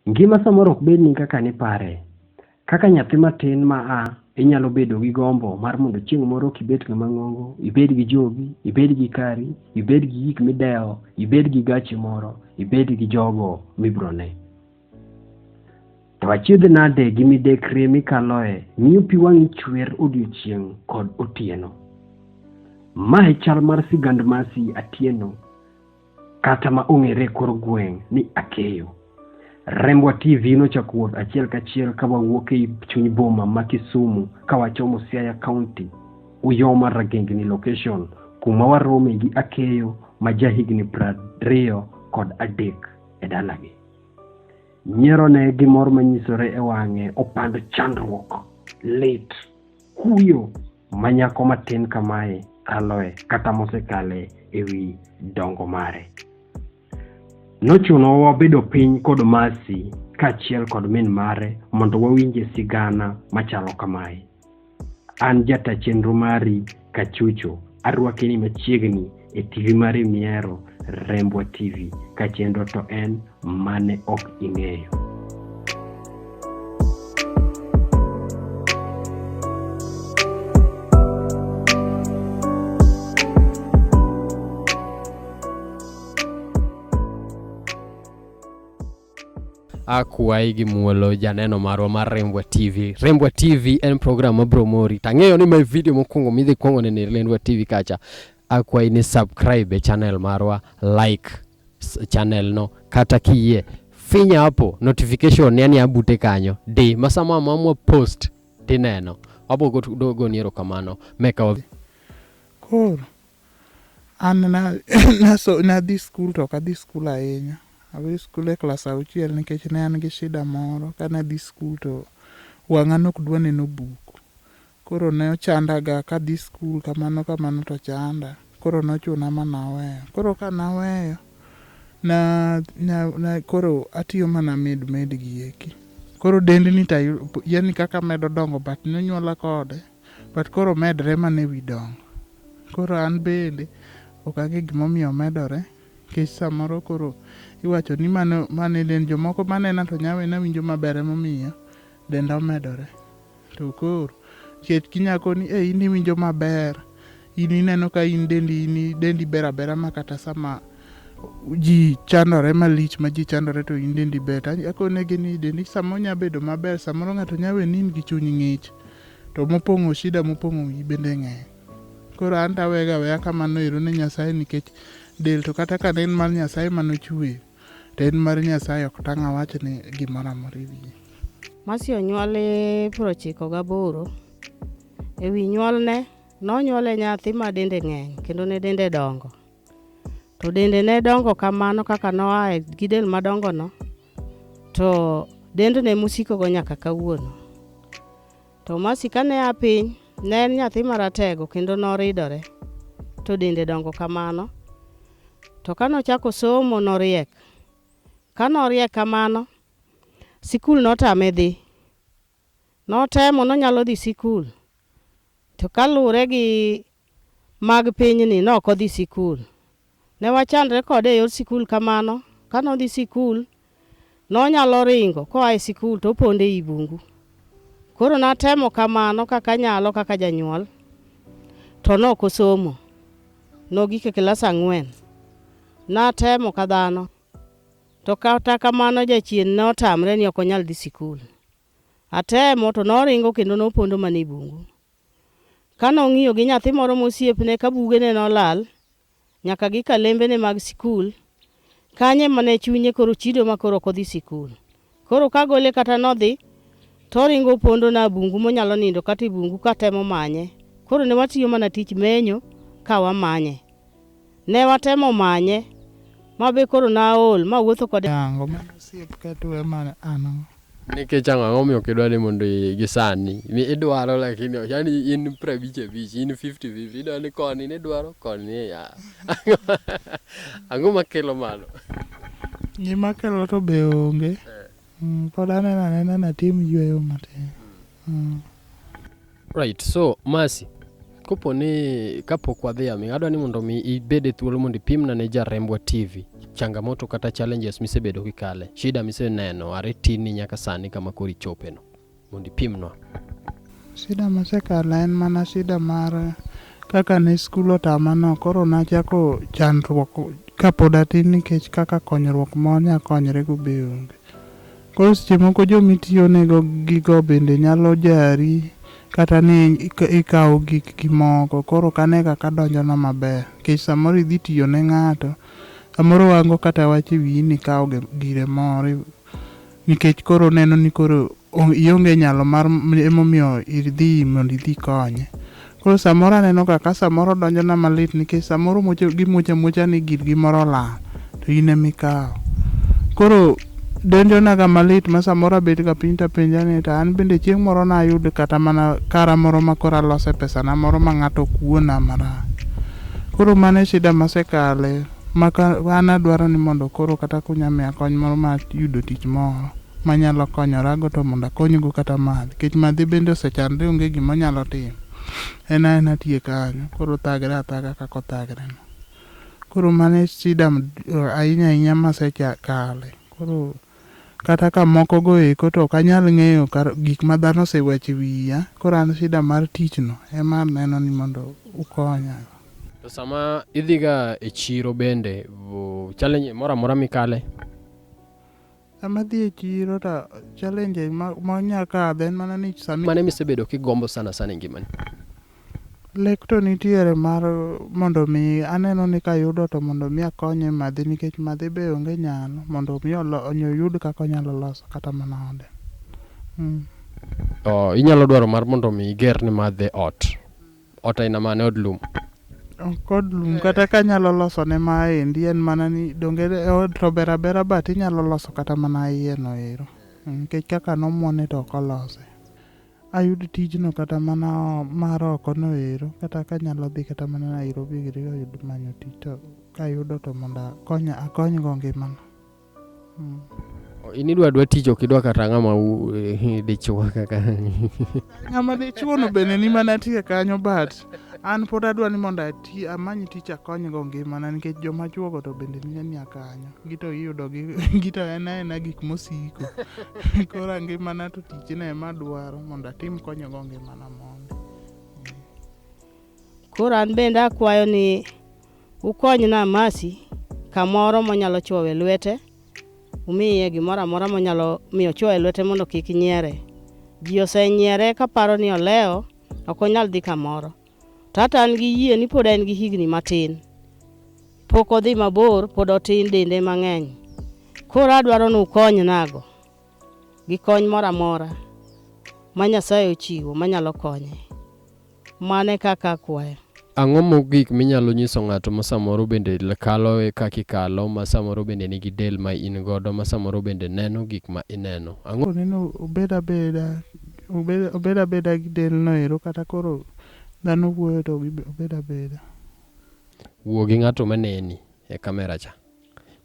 Ngima samoro ok bedni kaka nipare. Kaka nyathi matin ma a, inyalo bedo gi gombo mar mondo chieng' moro kibed ng'ama ng'ongo, ibed gi jogi, ibed gi kari, ibed gi gik midewo, ibed gi gachi moro, ibed gi jogo mibiro ne. To achiedh nade gi midekre mikaloe miyo pi wang'i chwer odiechieng' kod otieno. Ma e chal mar sigand Mercy Atieno kata ma ong'ere e kor gweng' ni Akeyo. Rembwa TV nochako wuoth achiel kachiel ka wawuok ei chuny boma ma Kisumu ka wachomo Siaya County, Uyoma Ragengni location kuma warome gi Akeyo ma jahigni prariyo kod adek e dalagi. Nyierone gi mor manyisore e wang'e opando chandruok, lit, Kuyo ma nyako matin kamae kaloe kata mosekale e wi dongo mare. Nochuno wabedo piny kod Masi kaachiel kod min mare mondo wawinje sigana machalo kamae. An jata chenro mari Kachucho, arwakeni machiegni e TV mar Imiero Rembwa TV ka chenro to en mane ok ing'eyo. akwayi gi muolo janeno marwa mar Rembwa TV. Rembwa TV en program ma bro mori. Tang'eyo ni mae video mokwongo midhi kwongo nene Rembwa TV kacha. Akwayi ni subscribe e channel marwa, like channel no kata kiyie finya hapo notification yani abute kanyo di masama mamwa post tineno wabogo dogoni erokamano meka koro An nadhi skul to ok adhi skul ahinya. Adhi skul e klas auchiel nikech ne an gi shida moro kane adhi skul to wang'a ne ok dwa neno buk. Koro ne ochandaga kadhi skul kamano kamano to chanda. Koro nochuna ma naweyo. Koro ka naweyo, koro atiyo mana med med gi eki. Koro dendni to yaani kaka amedo dongo but nonyuola kode. But koro omedre mana e wi dongo. Koro an bende ok ang'e gima omiyo omedore nikech samoro koro iwacho ni mano mano e dend jomoko manena to nyawe nawinjo maber ema omiyo denda omedore. To koro nikech ginya koni eh in iwinjo maber in ineno ka in dendi in dendi ber abera ma kata sama ji chandore malich ma ji chandore to in dendi ber. Akonegi ni dendi samoro nya bedo maber samoro ng'ato nya weni in gi chuny ng'ich. To mopong'o shida mopong'o wiyi bende ng'eny. Koro an to awega weya kamano ero ne Nyasaye nikech del to kata ka ne en mar Nyasaye mane ochweyo to en mar Nyasaye ok tang' awach ni gimoro amora e wiye. Mercy onyuol e prochiko gaboro. E wi nyuolne, nonyuole nyathi ma dende ng'eny kendo ne dende dongo. To dende ne dongo kamano kaka noa e gi del madongono, to dendno ema osikogo nyaka kawuono. To Masi kane a piny, ne en nyathi maratego kendo noridore, to dende dongo kamano. To kane ochako somo noriek. Kane oriek kamano, sikul notame dhi. Notemo nonyalo dhi sikul to kaluwre gi mag pinyni ne ok odhi sikul. Ne wachandre kode e yor sikul kamano, ka nodhi sikul nonyalo ringo koa e sikul to opondo ei bungu. Koro natemo kamano kaka anyalo kaka janyuol to ne ok osomo, nogik e kilas ang'wen. Natemo ka dhano to kata kamano jachien ne otamre ni ok onyal dhi sikul. Atemo to noringo kendo nopondo mana e bungu. Ka nong'iyo gi nyathi moro mosiepne ka bugene nolal, nyaka gi kalembene mag sikul, kanyo ema ne chunye koro chido ma koro ok odhi sikul. Koro ka gole kata nodhi, to oringo opondo na bungu monyalo nindo kata e bungu katemo manye. Koro ne watiyo mana tich menyo ka wamanye. Ne watemo manye, ma be koro naol, ma awuotho kode. Yango mano osiep ketu ema an ang'o? Nikech ang'o ang'o miyo ok idwa ni mondo i- gi sani ni idwaro lakini ok- yaani in prabich abich in 50 50 idwa ni koni ni idwaro koni ni ya ang'o makelo mano Gima kelo to be onge. Mm, Pod aneno anena natim yueyo matin. Mm. Right, so Mercy, kopo ni kapok wadhi aming'a, adwa ni mondo mi ibed e thuolo mondo ipimna ne Jarembwa TV changamoto kata challenges misebedo kikale, shida miseneno are tini nyaka sani kama kori chopeno mondo ipimnwa. Shida masekalo en mana shida mar kaka ne skul otama no, koro nachako chandruok kapod atin nikech kaka konyruok ma wanya konyrego be onge. Koro seche moko joma itiyo nego gi go bende nyalo jari kata ni ikawo gik gi moko koro ok ane kaka donjo na maber nikech samoro idhi tiyo ne ng'ato samoro wa go kata wach e wiyi ni ikawo gire moro nikech koro oneno ni koro ionge nyalo mar emomiyo idhi mondo idhi ikonye. Koro samoro aneno ga ka samoro donjona malit nikech samoro muoche gimuocho amuocha ni gir gi moro olal to in ema ikawo. Koro donjonaga malit ma samoro abetga piny to apenja ni to an bende chieng' moro nayud kata mana kara moro ma koro alose pesana moro ma ng'ato ok wuona marach. Koro mano e shida ma asekale ma ka an adwaro ni mondo koro kata ka unyalo miya kony moro mar yudo tich moro. manyalo konyorago to mondo akonygo kata madhe nikech madhe bende osechandre onge gima onyalo timo en aena tie kanyo koro othagre athaga kaka othagreno. Koro mano e sida ahinya ahinya masekale koro kata ka mokogo eko to ok anyal ng'eyo gik ma dhano osewacho e wiya koro an sida mar tichno ema aneno ni mondo ukonyago. To sama idhiga e chiro bende challenge moro amora mikale? sama adhi e chiro to challenges manya kadhe en mana ni sami mane misebedo kigombo sana sana e ngimani lek to nitiere mar mondo mi aneno ni kayudo to mondo mi akonye madhi nikech madhi be onge nyalo mondo mi oyud kaka onyalo loso kata mana ode mm. oh, inyalo dwaro mar mondo mi iger ni madhe ot ot aina mane od lum ok od lum kata ka nyalo loso ne ma endi en mana ni donge e od to ber abera but inyalo loso kata mana iye no ero Mm, nikech kaka nomwone to ok olose ayud tijno kata mana mar oko no ero kata ka nyalo dhi kata mana Nairobi giri ayud manyo tich to kayudo to mondo akonya akonygo ngimana Hmm. Oh, in idwa dwa tich ok idwa kata ng'ama eh, dichwo kaka ng'ama dichwo no bende ni mana tie kanyo but an pod adwa ni mondo ati amany tich akonygo ngimana nikech joma chwogo to bende ni ni akanyo gito iyudo gito en aena gik mosiko koro ngimana to tichna ema dwaro mondo atim konyogo ngimana mondo koro an bende akwayo ni Ukonyna amasi kamoro monyalo chwowe lwete, umiye gimoro amora monyalo miyo chwowe lwete mondo kik nyiere. Ji osenyiere kaparo ni olewo, ok onyal dhi kamoro. To ato an gi yie ni pod en gi higni matin. Pok odhi mabor, pod otin dende mang'eny. Koro adwaro ni ukonynago gi kony moro amora ma Nyasaye ochiwo manyalo konye. Mano e kaka akwayo. Ang'o mogik minyalo nyiso ng'ato ma samoro bende kalo e kaka ikalo, ma samoro bende nigi del ma in godo, ma samoro bende neno gik ma ineno? Ang'o. Koni ni obed abeda, obed abeda gi delno ero kata koro dhano wuoyo to obed abeda. Wuo gi ng'ato ma neni e kamera cha.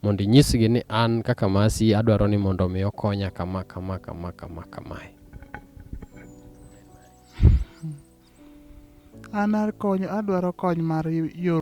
mondo inyisgi ni an kaka masi adwaro ni mondo mi okonya kama kama kama kama kamae. An akonyo adwaro kony mar yor